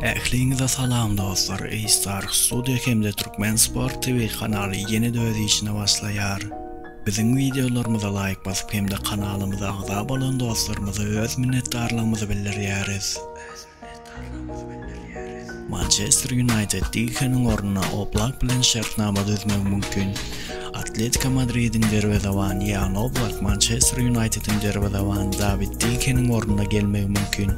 Ähliňize salam dostlar A-Star Studio hem-de Türkmen Sport TV kanaly ýene-de öz işine başlaýar. Biziň wideolarymyza laýk basyp hem-de kanalymyza agza bolan dostlarymyza öz minnetdarlygymyzy bildirýäris. Mançester Ýunaýted Dikeniň ornuna Oblak bilen şertnama düzmegi mümkin. Atletika Madridiň derwezebany Ýan Oblak Mançester Ýunaýtediň derwezebany Dawid De Geheniň ornuna gelmegi mümkin.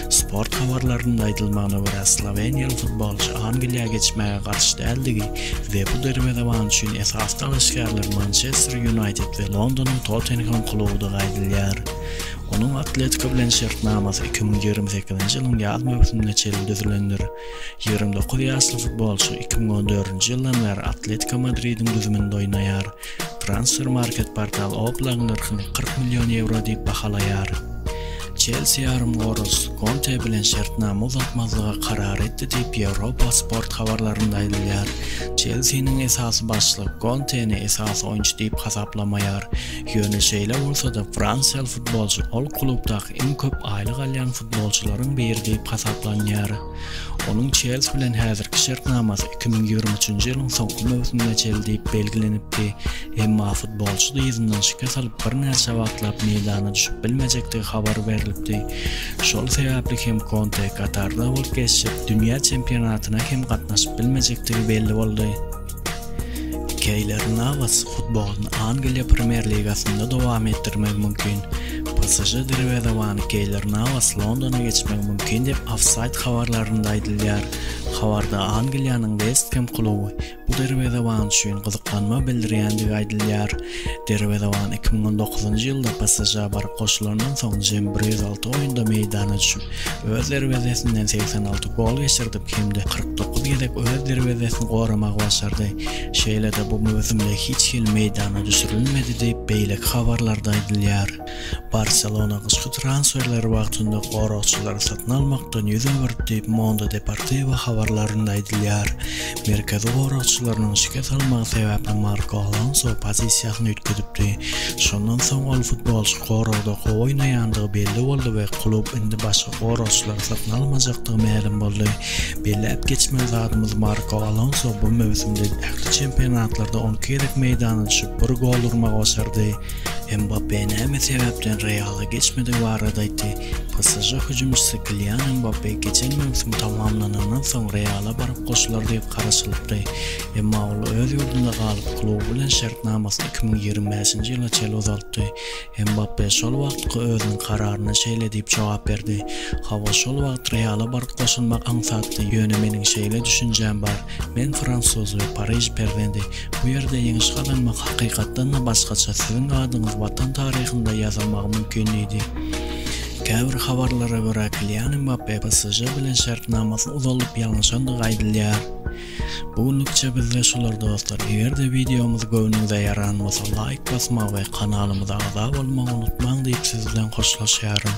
Sport habarlarynda aýdylmagyna görä, sloweniýaly futbolçy Angliýa geçmäge garşy däldigi we bu derwezeban üçin esasy dalaşgärler Mançester Ýunaýted we Londonyň Tottenhem klubudygy aýdylýar. Onuň Atletika bilen şertnamasy iki müň ýigrimi sekizinji ýylyň ýaz möwsümine çenli düzülendir. Ýigrimi dokuz ýaşly futbolçy iki müň on dördünji ýyldan bäri Atletiko Madridiň düzüminde oýnaýar. Transfermarkt portal Oblagyň nyrhyny kyrk million ýewro diýip bahalaýar. Çelsi ýarymgoragçysy Konte bilen şertnama uzaltmazlyga karar etdi diýip, Ýewropa Sport habarlarynda aýdylýar. Çelsiniň esasy başlygy Konteni esasy oýunçy diýip hasaplamaýar. Ýöne şeýle bolsa-da, fransiýaly futbolçy ol klubdaky iň köp aýlyk alýan Futbolçylaryň biri diýip hasaplanýar. Onuň Çelsi bilen häzirki şertnamasy iki müň ýigrimi üçünji ýylyň soňky möwsümine çenli diýip belgilenipdi, emma futbolçy dyzyndan şikes alyp birnäçe wagtlap meýdana düşüp bilmejekdigi habar berlipdi. Şol sebäpli hem Konte Katarda bolup geçjek dünýä çempionatyna hem gatnaşyp bilmejekdigi belli boldy. Keýler Nawaz futbolyny Angliýa Premýer ligasynda dowam etdirmegi mümkin. PSŽ derwezebany Keýler Nawaz Londona geçmegi mümkin diýip, Offside habarlarynda aýdylýar. Habarda Angliýanyň West Hem kluby bu derwezeban üçin gyzyklanma bildirýändigi aýdylýar. Derwezewan iki müň on dokuzynjy ýylda PSŽ-a baryp goşulandan soň jemi bir ýüz alty oýunda meýdana düşüp, öz derwezesinden segsen alty gol geçirdip hem-de kyrk dokuz gezek öz derwezesini goramagy başardy. Şeýle-de bu möwsümde hiç hili meýdana düşürilmedi diýip, beýleki habarlarda aýdylýar. Barselona gyşky transferleri wagtynda goragçylary satyn almakdan ýüz öwürdi diýip, Mondo Deportivo habarlarynda aýdylýar. Merkezi goragçylarynyň şikes almagy sebäpli Marko Alonso pozisiýasyny üýtgedipdi. Şondan soň ol futbolçy goragda gowy oýnaýandygy belli boldy we klub indi başga goragçylary satyn almajakdygy mälim boldy. Belläp geçmeli zadymyz, Marko Alonso bu möwsümde ähli çempionatlarda on iki gezek meýdana düşüp, bir gol urmagy başardy. Mbappe näme sebäpden Reala geçmedigi barada aýtdy. PSŽ hüjümçisi Kilian Mbappe geçen möwsüm tamamlanandan soň Reala baryp goşular diýip garaşylypdy. Emma ol öz ýurdunda galyp, kluby bilen şertnamasyny iki müň ýigrimi bäşinji ýyla çenli uzaltdy. Mbappe şol wagtky özüniň kararyna şeýle diýip jogap berdi, Hawa, şol wagt Reala baryp goşulmak aňsatdy, ýöne meniň şeýle düşünjäm bar, men fransuz we Pariž perzendi. Bu ýerde ýeňiş gazanmak hakykatdan-da başgaça siziň adyňyz watan taryhynda ýazylmagy mümkin diýdi. Käbir habarlara görä Kilian Mbappe PSŽ bilen şertnamasyny uzaldyp ýalňyşandygy aýdylýar. Bu günlükçe bizde şular dostlar, eger-de wideomyz göwnüňize ýaran bolsa laýk basmagy we kanalymyza agza bolmagy unutmaň diýip siz bilen hoşlaşýaryn.